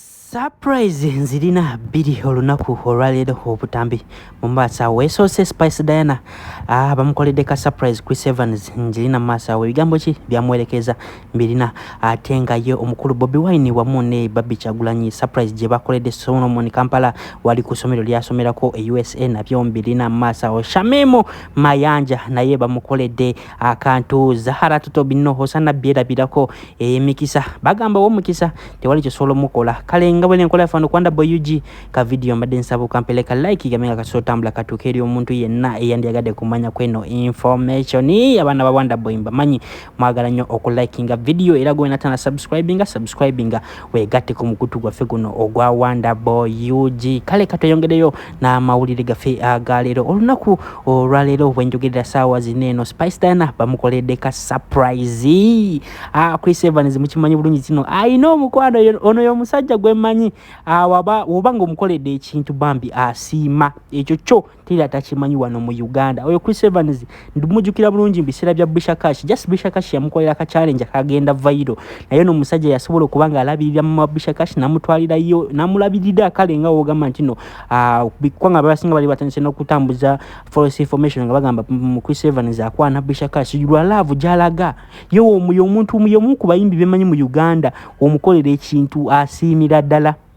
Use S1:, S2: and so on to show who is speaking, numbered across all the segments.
S1: Surprise nzirina bbiri olunaku olwaleero obutambi mu maaso awo esoose Spice Diana ah, bamukoledde ka surprise Chris Evans ngirina mu maaso awo ebigambo ki byamuwerekeza mbirina ate nga ye omukulu Bobi Wine wamu ne Barbie Kyagulanyi surprise gye bakoledde Solomon Kampala wali ku ssomero lyasomerako e USA nabyo mbirina mu maaso awo Shamim Mayanja naye bamukoledde akantu zahara tuto binno hosana biera birako emikisa eh, bagamba wo mukisa tewali kisolo mukola kale nga bwene nkola fano kwanda boy ug ka video mbade nsabu kampele ka like gamenga ka sota mbla ka tukeri omuntu yenna eyandi agade kumanya kweno information ni abana ba wanda boy mbamanyi mwagala nyo oku likinga video era gwe natana subscribinga subscribinga wegatte ku mukutu gwaffe guno ogwa wonderboy ug kale katweyongereyo n'amawulire gaffe agaleero olunaku olwaleero bwenjogerera saawa zina eno spice diana bamukoledde ka surprise ah, chris evans mukimanyi bulungi kino alina omukwano ono yomusajja gwemanyi ah, oba nga omukoledde ekintu bambi asiima ekyo kyo teri atakimanyi wano mu uganda oyo chris evans ndimujukira bulungi mubiseera bya bishakash just bishakash yamukolera ka challenge akagenda vairo naye no omusajja yasobola okuba nga alabirira mama bishakash namutwalirayo namulabirira kale nga wogamba nti no ah, kubanga abasinga bali batandise n'okutambuza false information nga bagamba mm, chris evans akwana bishakash lwa laavu gyalaga ye omuyo omuntu omuyo omu ku bayimbi bemanyi mu uganda omukolera ekintu asiimira ddala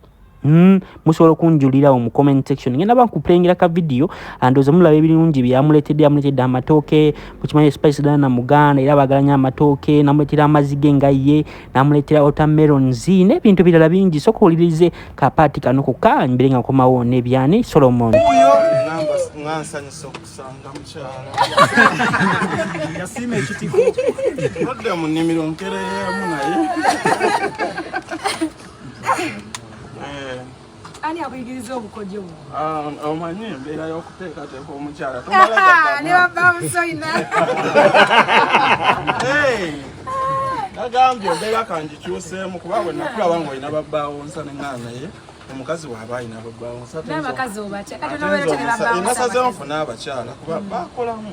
S1: Mm, musobola okunjulirawo mu comment section ngenda bankupulengera ka vidiyo andooza mulaba ebirungi byamuleetedde amuleetedde amatooke mukimanyi spice dala na muganda era bagalanya amatooke namuleetera amazzi ge nga ye namuleetera otamerons n'ebintu birala bingi soka owulirize kapaati kano koka mbere nga nkomawo nebyani solomon yasiima
S2: ekitiko odde mu nnimiro nkereyeemu naye
S3: Eh. ani akuyigiriza obukodyo bu ah, omanyi
S2: embeera y'okuteekateeka omukyala ne baba
S3: musoyina
S2: nagambye embeera kangikyuseemu kuba bwe nakulaba nga olina babbaawo nsa neŋaanaye omukazi waaba alina
S3: babbaawonasazeemu funa
S2: abakyala kuba bakolamu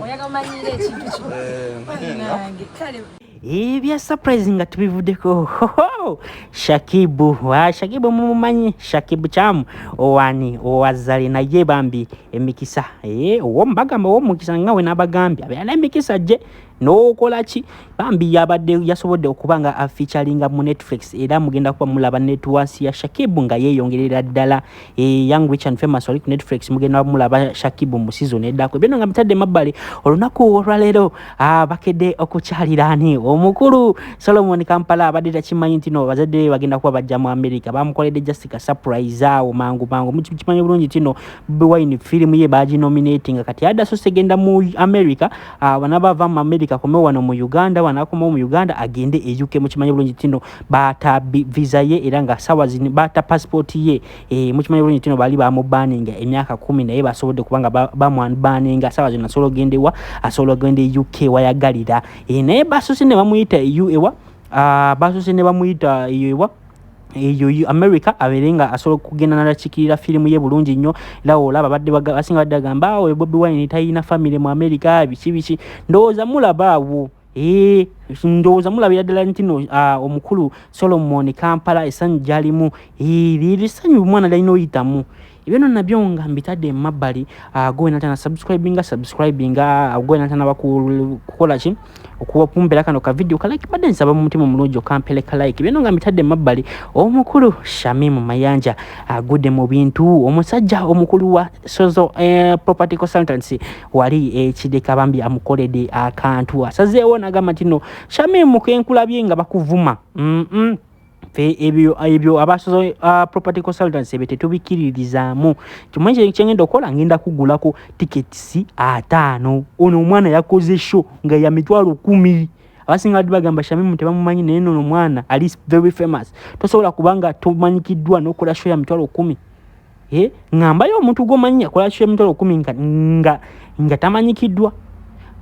S3: ebya
S1: surprise nga tubivudeko hoho shakibu wa shakibu mumumanyi shakibu kyamu owani owazali naye bambi emikisa eh, owo mbagamba owo mukisa nga we nabagambye abeera emikisa gye n'okola ki bambi yabadde yasobodde okuba nga afeaturinga mu netflix era mugenda kuba mulaba netwasi ya shakibu nga yeeyongerera ddala e young rich and famous wali ku netflix mugenda mulaba shakibu mu season eddako ebyona nga bitadde mabbali olunaku olwaleero ah, bakedde okukyalira ani omukulu solomon kampala abadde takimanyi nti no bazadde be bagenda kuba bajja mu america bamukoledde just ka surprise awo mangu mangu mukimanyi bulungi tino bwine firimu ye baginominatinga kati adda so segenda mu america ah, bana bava mu america kome wano mu uganda wanakomawo mu uganda agende e uk mukimanyi bulungi tino baata visa ye era nga sawa zino baata passport ye e, mukimanyi bulungi tino bali bamubaninga emyaka kumi naye basobodde kubanga bamubaninga sawa zino asobola ogenda ewa asobola ogenda e uk wayagalira e, naye basose ne bamuyita eu ewa ah, basose ne bamuyita eyo ewa eyo america abeere nga asobola okugenda nalakikirira firimu ye bulungi nnyo era olaba badde basinga badde agamba awo ah, bobi wine talina famiry mu america biki biki ndowooza mulaba awo Eee, ndowooza mulabira ddala nti no uh, omukulu solomon kampala esanyu gyalimu liri sanyu omwana lyalina oyitamu ebyo no nabyo nga mbitadde emabbali uh, gwenatana subscribinga subscribinga uh, ah, gwenatana bakukola ki okuwapumbera kano kavidiyo kalike badde nsaba mu mutima omulungi okampele kalike byona nga mbitadde emabbali omukulu shamimu mayanja agudde mu bintu omusajja omukulu wa sozo uh, property consultancy wali ekideka eh, bambi amukolede akantu asazeewo nagamba nti no shamimu kenkulabye nga bakuvuma mm -mm. fe ebyo ebyo abasozo uh, property consultants ebyo tetubikiririzaamu kimwe kye kyengenda okola ngenda kugulako tickets ataano ono omwana yakoze show nga ya mitwalo kumi abasinga badi bagamba shamimu tebamumanyi naye nono omwana ali very famous tosobola kubanga tomanyikiddwa nokola show ya mitwalo kumi eh, ngambayo omuntu gwomanyi akola kyo emitwalo kumi nga, nga, nga tamanyikiddwa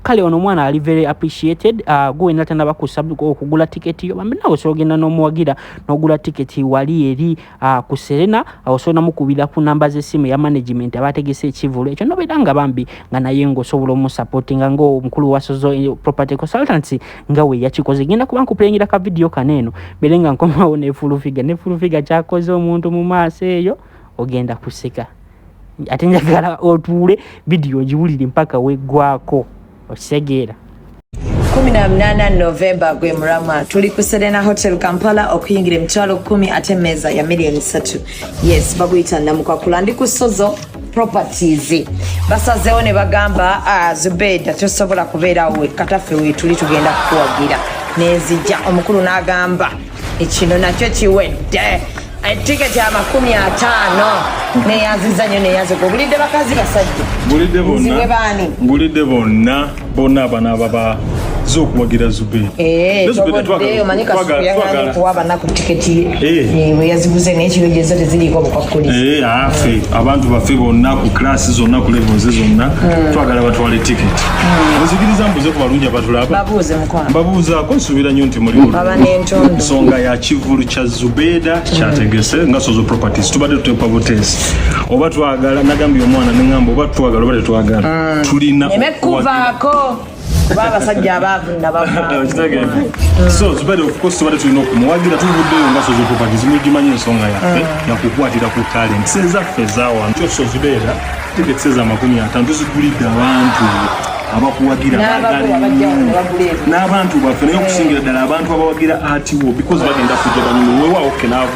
S1: kale ono omwana ali very appreciated uh, gwe wena tanaba okugula tiketi yo bambi nawe osobola ogenda n'omuwagira n'ogula tiketi wali eri uh, ku serena osobola namukubira ku namba z'essimu ya management abategese ekivulu ekyo nobeera nga bambi nga naye ngaosobola omusapotinga ngaomukulu wasozo eh, property consultancy nga we yakikoze genda kuba nkupulengera ka vidiyo kano eno mbere nga nkomawo ne fulufiga ne fulufiga kyakoze omuntu mu maaso eyo ogenda kuseka ate njagala otuule vidiyo ogiwulire mpaka weggwako okitegeera 18
S3: novemba gwe mulamwa tuli ku serena hotel kampala okuyingira emitwalo 1 ate meeza ya miliyoni 3 yes baguyita namukwakula ndi ku sozo properties basazeewo ne bagamba ah, zubeda tosobola kubeerawo kataffe wetuli tugenda kukuwagira nenzija omukulu n'agamba ekino nakyo kiwedde etika kya makumi ataano neyanziza nyo neyanzika obulidde bakazi basajja nziwe baani bona abanaaba ba zokuwagira zube eh, bweyaziguze eh. eh, nekiro gyezo teziriiko obukwakulizi afe abantu baffe bonna ku klasi zonna ku levels zonna hmm. twagala batwale ticket hmm. ozikiriza mbuze ku balungi abatulaba mbabuuzaako nsuubira nnyo nti mulinsonga ya kivulu kya zubeeda hmm. kyategese nga sozo properties tubadde tutepa butesi oba twagala nagambye omwana neŋamba oba twagala oba tetwagala tulina neme kuvaako kuba abasajja abaavu nabavaasobade okukosa tubadde tulina okumuwagira tuvuddeyo nga sozi properties mugimanyi ensonga yaffe yakukwatira ku talent sezaffe zawano kyo sozi beera tiketi seza amakumi atano tuzigulidde abantu abakuwagira n'abantu baffe naye okusingira ddala abantu abawagira atiwo because bagenda kujja banyumu wewawo kenaavu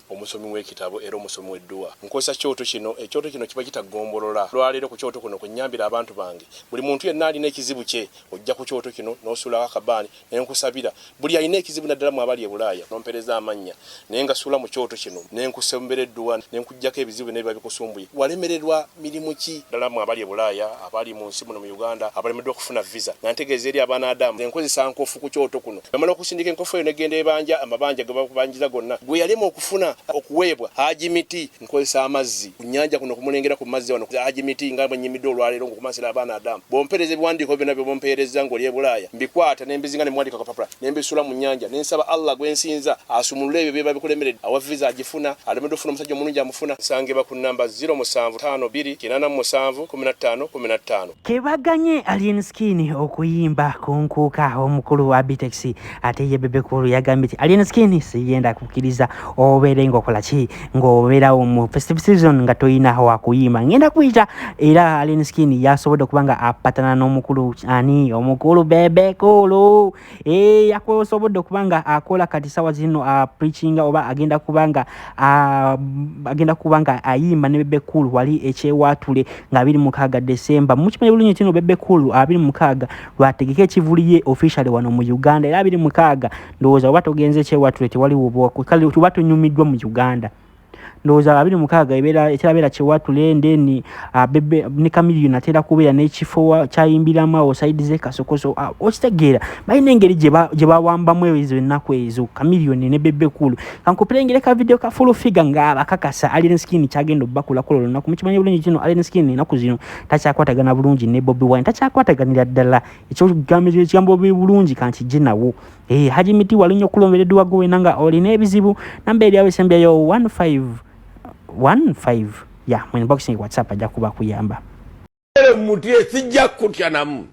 S4: omusomi w'ekitabo era omusomi w'edduwa. Nkozesa kyoto kino, ekyoto kino kiba kita ggombolola. Olwaleero ku kyoto kuno kwe nnyambira abantu bange. Buli muntu yenna alina ekizibu kye, ojja ku kyoto kino n'osuulawo akabaani ne nkusabira. Buli alina ekizibu naddala mmwe abali e Bulaaya n'ompeereza amannya ne ngasuula mu kyoto kino ne nkusombera edduwa ne nkuggyako ebizibu byonna ebiba bikusumbuye walemererwa. mirimu ki? Ddala mmwe abali e Bulaaya, abali mu nsi muno mu Uganda abalemeddwa okufuna viza nga ntegeeza eri abaana Adamu nze nkozesa nkofu ku kyoto kuno namala okusindika enkofu eyo negenda ebanja amabanja ge babanjiza gonna gwe yalema okufuna okuweebwa Haji Miti nkozesa amazzi ku nnyanja kuno kumulengera ku mazzi wano Haji Miti nga bwe nnyimidde olwaleero ng'okumansira abaana Adamu bw'ompeereza ebiwandiiko byonna bye bumpeerezza ng'oli e Bulaaya mbikwata nembizinga nemwandika kapapula nembisula mu nyanja nensaba allah gwensinza asumulule ebyo byeba bikulemeredde awa visa agifuna alemedde ofuna omusajja omulungi amufuna nsangibwa ku namba 0752 kebaganye
S1: alien skin okuyimba kunkuuka omukulu wa bitex ate ye bebekulu yagambye ti alien skin siyenda kukkiriza obeere ngaokola ki ng'obeerawo mu festive season nga tolina wakuyima ngenda kuyita era alien skin yasobodde okuba nga apatana n'omukulu ani omukulu bebekulu e, yakosobodde okuba nga akola kati sawa zino apreachinga oba agenda kuba nga agenda kuba nga ayimba ne bebekulu wali ekyewatule nga abiri mukaaga desemba mukimanyi bulungi kino bebekulu abiri mukaaga lwategeka ekivuli ye officially wano mu uganda era abiri mukaaga ndowooza oba togenze kyewatule tewali wobwakwe kale tuba tunyumiddwa mu uganda ndowooza abiri mukaaga ekirabeera kyewatule ndeni ah, ne kamiliyo natera kubeera nekifo kyayimbiramu awo saidi zekasokoso ah, okitegeera balina engeri gye bawambamu ezo ennaku ezo kamiliyoni ne bebekulu kankupirengere ka vidiyo ka fulu figa ngaabakakasa alien skin kyagenda obakulakola olunaku mukimanyi bulungi kino alien skin enaku zino takyakwatagana bulungi ne bobi wine takyakwataganira ddala ekyogambira ekigambo bi bulungi kanti je nawo eh haji miti walinyo kulombere duwa go wenanga oli ne bizibu namba eri awe sembya yo 15 15 ya mu inbox ni whatsapp aja kuba kuyamba ele muti
S5: esijja kutya namu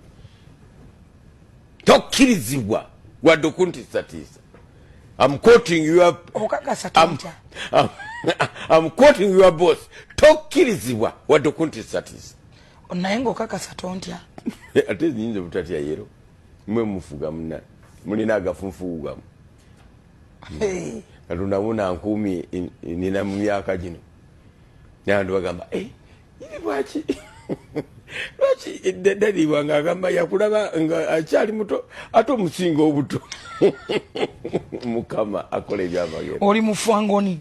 S5: tokirizibwa wadde okuntisatiisa am quoting your okakasa oh, tija am quoting your boss tokirizibwa wadde okuntisatiisa naye ngaokakasa
S6: tontya
S5: ate nyinza
S6: obutatya
S5: yero mwe
S6: mufuga
S5: muna mulina agafunfugu gamu katonda muna nkuumi nina mu myaka gino nabantu bagamba eh, iri lwaki lwaki eddadalibwa nga agamba yakulaba nga akyali muto ate omusinga obuto mukama akola ebyamagero oli mufwangoni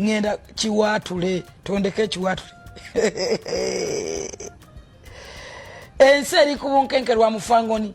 S6: ŋŋenda kiwaatule tondeka ekiwaatule ensi eri ku bunkenke lwa mufangoni